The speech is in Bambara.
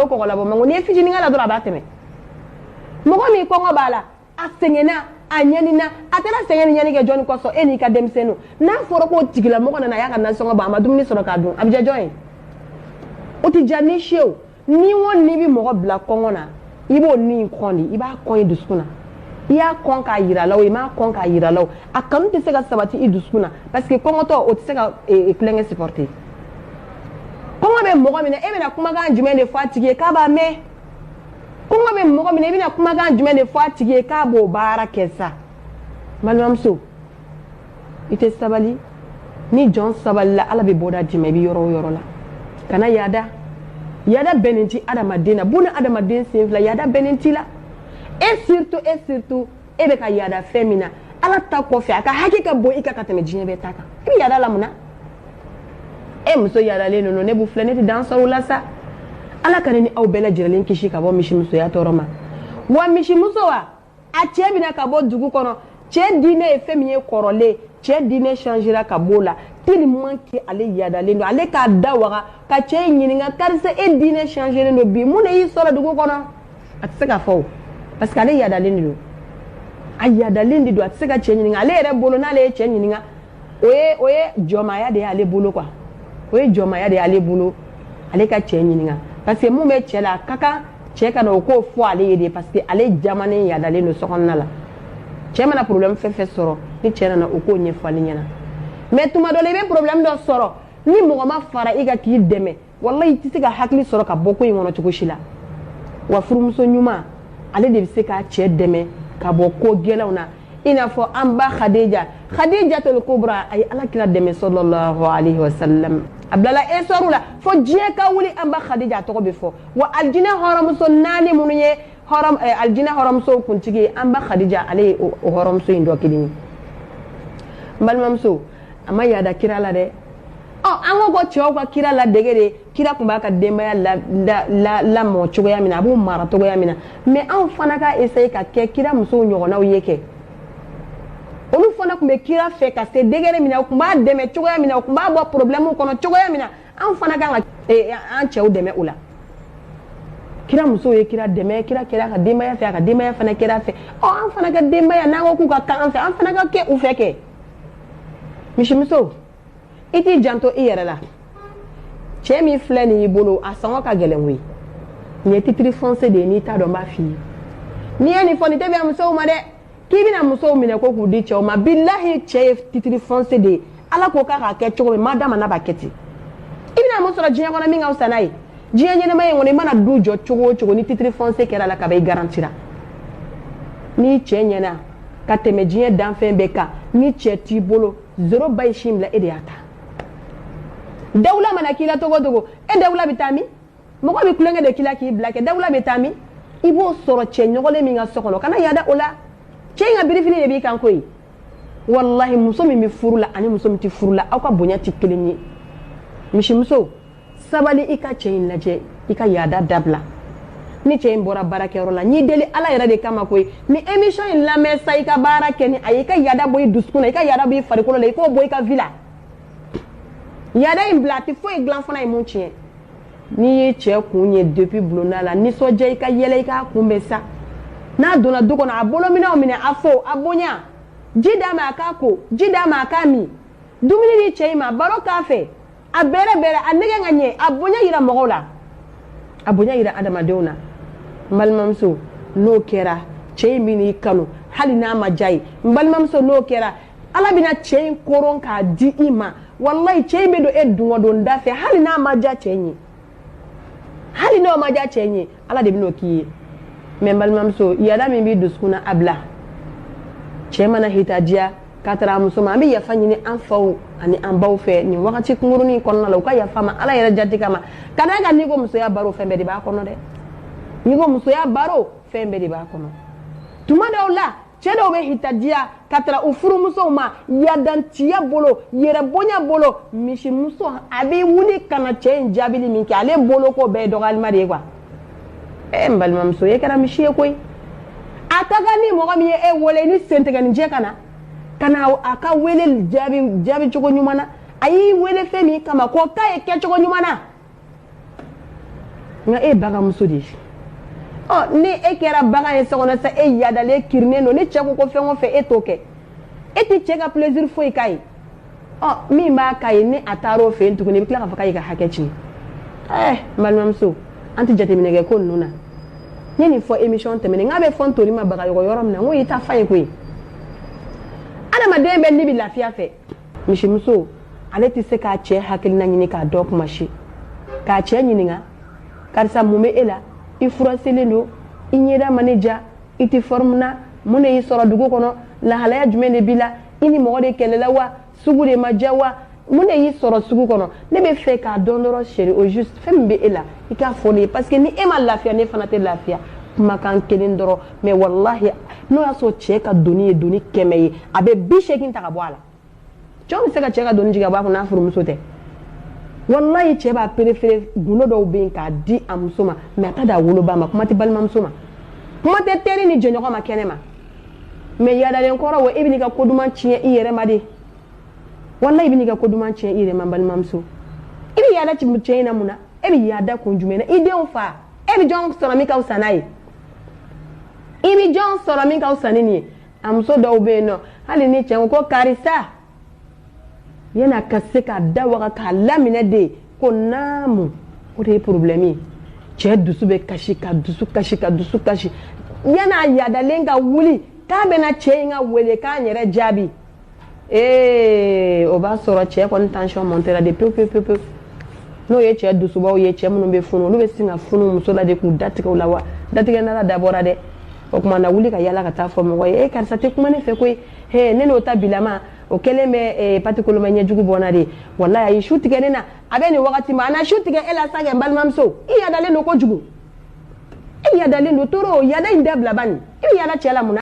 o kɔgɔ labɔ man go n'i ye fitinin k'a la dɔrɔn a b'a tɛmɛ mɔgɔ min kɔngɔ b'a la a sɛgɛnna a ɲanina a taara sɛgɛn ni ɲani kɛ jɔni kosɔn e n'i ka denmisɛnninw n'a fɔra k'o tigilamɔgɔ nana a y'a ka nasɔngɔ bɔ a ma dumuni sɔrɔ k'a dun a bɛ diya jɔn ye o tɛ diya ni si ye o ni o ni bɛ mɔgɔ bila kɔngɔ na i b'o ni in kɔn de i b'a kɔn i dusukun na i y'a kɔn k'a yira la o i m'a kɔn k'a yira la o a kanu tɛ se ka sabati i dusukun na parce que kɔngɔtɔ o tɛ se ka eh, eh, kulokan supporter kɔngɔ bɛ mɔgɔ min na e bɛna kumakan jumɛn de fɔ a tigi ye k'a b'a mɛn kɔngɔ bɛ mɔgɔ min na i bɛna kumakan jumɛn de fɔ a tigi ye k'a b'o baara kɛ sa balimamuso i tɛ sabali ni jɔn sabalila ala bɛ bɔda d'i ma i bɛ yɔrɔ o yɔrɔ la kana yaada yaada bɛnnen tɛ adamaden na buna adamaden sen fila yaada bɛnnen t'i la e surtout e surtout e bɛ ka yaada fɛn min na ala ta kɔfɛ a ka hakɛ ka bon i kan ka tɛmɛ diɲɛ bɛɛ ta kan i bɛ yaada la mun na e muso yaadalen ninnu ne b'u filɛ ne tɛ dan sɔrɔ u la sa ala ka ne ni aw bɛɛ lajɛlen kisi ka bɔ misimusoya tɔɔrɔ ma wa misimuso wa a cɛ bɛ na ka bɔ dugu kɔnɔ cɛ diinɛ ye fɛn min ye kɔrɔlen cɛ diinɛ changera ka b'o la tellement que ale yaadalen don ale k'a da waga ka cɛ in ɲininka karisa e diinɛ changeren don bi mun de y'i sɔrɔ dugu kɔnɔ a tɛ se k'a fɔ parce que ale yadalen de don a yadalen de don a tɛ se ka cɛ ɲininka ale yɛrɛ bolo n'ale ye cɛ ɲininka o ye o ye jɔnmaya de y'ale bolo quoi o ye jɔnmaya de y'ale bolo ale ka cɛ ɲininka parce que mun bɛ cɛ la a ka kan cɛ ka na o ko fɔ ale ye de parce que ale jamanen yadalen don sokɔnɔna la cɛ mana problème fɛn fɛn sɔrɔ ni cɛ nana o ko ɲɛfɔ ale ɲɛna mais tuma dɔ la i bɛ problème dɔ sɔrɔ ni mɔgɔ ma fara i kan k'i dɛmɛ walayi i tɛ se ka hakili sɔrɔ ka bɔ ko in kɔnɔ cogo si la wa furumuso ɲuman ale de bɛ se k'a cɛ dɛmɛ ka bɔ ko gɛlɛnw na i n'a fɔ an ba hadija hadijatul kubra a ye ala kira dɛmɛ sallallahu alayhi wa sallam a bilala histoire la fo diɲɛ ka wuli an ba hadija a tɔgɔ bɛ fɔ wa alijinɛ hɔrɔnmuso naani minnu ye hɔrɔn eh, alijinɛ hɔrɔnmusow kuntigi ye an ba hadija ale ye o hɔrɔnmuso in dɔ kelen ye n balimamuso a ma yaada kira la dɛ Ɔ an ko ko cɛw ka kira ladege de kira tun b'a ka denbaya lamɔ cogoya min a b'u mara cogoya min na mais anw fana ka essayer ka kɛ kira musow ɲɔgɔnnaw ye kɛ olu fana tun bɛ kira fɛ ka se degré min na u tun b'a dɛmɛ cogoya min u tun b'a bɔ problème kɔnɔ cogoya min na anw fana ka eh, an cɛw dɛmɛ o la kira musow ye kira dɛmɛ kira kɛra a ka denbaya fɛ a ka denbaya fana kɛra a fɛ an fana ka denbaya n'an ko k'u ka kɛ an fɛ an fana ka kɛ u fɛ kɛ misimuso i t'i janto i yɛrɛ la cɛ min filɛ nin y'i bolo a sɔngɔ ka gɛlɛn koyi nin ye titre foncier de ye n'i t'a dɔn n b'a f'i ye n'i ye nin fɔ nin tɛ bɛn musow ma dɛ k'i bɛna musow minɛ ko k'u di cɛw ma bilahi cɛ ye titre foncier de ye ala ko k'a k'a kɛ cogo min ma d'a ma n'a b'a kɛ ten i bɛna mun sɔrɔ diɲɛ kɔnɔ min ka fisa n'a ye diɲɛ ɲɛnamaya kɔnɔ i mana du jɔ cogo o cogo ni titre foncier kɛra a la kaban i garantira n'i cɛ ɲɛna ka tɛmɛ diɲɛ danfɛn bɛɛ kan ni cɛ t'i bolo zéro ba ye sin bila e de y'a ta dawula mana k'i la togo togo e dawula bɛ taa min mɔgɔ bɛ tulonkɛ de k'i la k'i bila kɛ dawula bɛ taa min i b'o sɔrɔ cɛ ɲɔgɔnlen min ka so kɔnɔ kana yaada o la cɛ in ka birifini de b'i kan koyi walahi muso min bɛ furu la ani muso min tɛ furu la aw ka bonya tɛ kelen ye misimuso sabali i ka cɛ in lajɛ i ka yaada dabila ni cɛ in bɔra baarakɛyɔrɔ la n b'i deli ala yɛrɛ de kama koyi nin émission in lamɛn sa i ka baara kɛ ni a ye i ka yaada bɔ i dusukun na i ka yaada bɔ i farikolo la i k'o bɔ i ka vie la yaada in bila a tɛ foyi dilan fana ye mun tiɲɛ n'i ye cɛ kun ye depuis bulonda la nisɔndiya i ka yɛlɛ i k'a kunbɛn sa n'a donna du kɔnɔ a bolominɛw minɛ a fo a bonya ji d'a ma a k'a ko ji d'a ma a k'a min dumuni di cɛ in ma baro k'a fɛ a bɛrɛbɛrɛ a nɛgɛ ka ɲɛ a bonya yira mɔgɔw la a bonya yira adamadenw na n balimamuso n'o kɛra cɛ in bɛn'i kanu hali n'a ma diy'a ye n balimamuso n'o kɛra ala bɛna cɛ in koron k'a di i ma walayi cɛ in bɛ don e dungɔdonda fɛ hali n'a ma diya cɛ in ye hali n'o ma diya cɛ in ye ala de bɛn'o k'i ye mais n balimamuso yaada min b'i dusukun na a bila cɛ mana hitadiya ka tara a muso ma an bɛ yafa ɲini an faw ani an baw fɛ nin wagati kunkurunin kɔnɔna la u ka yafa ma ala yɛrɛ jati kama ka d'a kan n'i ko musoya baro fɛn bɛɛ de b'a kɔnɔ dɛ n'i ko musoya baro fɛn bɛɛ de b'a kɔnɔ tuma dɔw la cɛ dɔw bɛ hitadiya ka tara u furumusow ma yadantiya bolo yɛrɛbonya bolo misimuso a bɛ wuli ka na cɛ in jaabili min kɛ ale bolo ko bɛɛ ye dɔgɔyalima de ye quoi ee n balimamuso e kɛra misi ye koyi a ka kan ni mɔgɔ min ye e wele ni sentigɛnijɛ ka na ka na a ka wele jaabi jaabi cogo ɲuman na a y'i wele fɛn min kama k'o k'a ye kɛcogo ɲuman na nka e ye bagan muso de ye ɔ ni e kɛra bagan ye so kɔnɔ sa e yaadalen kirinnen don ni cɛ ko ko fɛn o fɛn e t'o kɛ e tɛ cɛ ka plaisir foyi k'a ye ɔ min b'a k'a ye ni a taara o fɛ yen tuguni i bɛ tila k'a fɔ k'a y'i ka hakɛ tiɲɛ ɛɛ eh, n balimamuso an tɛ jateminɛ kɛ ko ninnu na n ye nin fɔ émission tɛmɛnen k'a bɛ fɔ ntori ma bagan yɔrɔ min na n ko y'i ta fa ye koyi adamaden bɛɛ ni bɛ lafiya fɛ misimuso ale tɛ se k'a cɛ hakilina ɲini k'a dɔn kuma si k'a cɛ ɲininka karisa mun bɛ e la i furaselen don i ɲɛda ma ne diya i tɛ fɔrimu na mun de y'i sɔrɔ dugu kɔnɔ lahalaya jumɛn de b'i la i ni mɔgɔ de kɛlɛla wa sugu de ma diya wa mun de y'i sɔrɔ sugu kɔnɔ ne bɛ fɛ k'a dɔn dɔrɔn chéri au juste fɛn min bɛ e la i k'a fɔ ne ye parce que ni e ma lafiya ne fana tɛ lafiya kumakan kelen dɔrɔn mɛ walahi n'o y'a sɔrɔ cɛ ka doni ye doni kɛmɛ ye a bɛ bi seegin ta ka bɔ a la cɛw bɛ se ka cɛ ka doni jigin a b'a fɔ n'a furumuso tɛ walayi cɛ b'a perefere gundo dɔw bɛ yen k'a di a muso ma mɛ a t'a d'a woloba ma kuma tɛ balimamuso ma kuma tɛ teri ni jɛɲɔgɔn ma kɛnɛ ma mɛ yaadalen kɔrɔ wo e bɛ n'i ka ko duman tiɲɛ i yɛrɛ ma de walayi i bɛ n'i ka ko duman tiɲɛ i yɛrɛ ma balimamuso i bɛ yaada cɛ in na mun na e bɛ yaada kun jumɛn na i denw fa e bɛ jɔn sɔrɔ min ka fisa n'a ye i bɛ jɔn sɔrɔ min ka fisa ni nin ye a muso dɔw bɛ yen nɔ hali ni cɛ ko karisa yanni a ka se k'a da waga k'a laminɛ de ko naamu o de ye porobilɛmu ye cɛ dusu bɛ kasi ka dusu kasi ka dusu kasi yanni a yaadalen ka wuli k'a bɛna cɛ in ka welekan yɛrɛ jaabi ee o b'a sɔrɔ cɛ kɔni tansiyɔn mɔntera de pewu pewu pewu n'o ye cɛ dusubaw ye cɛ minnu bɛ funu olu bɛ sin ka funu muso la de k'u datigɛ o la wa datigɛ nara dabɔra dɛ o tuma na wuli ka yala ka taa fɔ mɔgɔ ye ee karisa tɛ kuma ne fɛ koyi he ne n'o ta bilama o kɛlen bɛ patikoloma ɲɛjugu bɔ n na de walayi a ye su tigɛ ne na a bɛ nin wagati ma a na su tigɛ e la sa kɛ n balimamuso i yadalen don kojugu i yadalen don toro yada in dabila bani i bɛ yada cɛ la mun na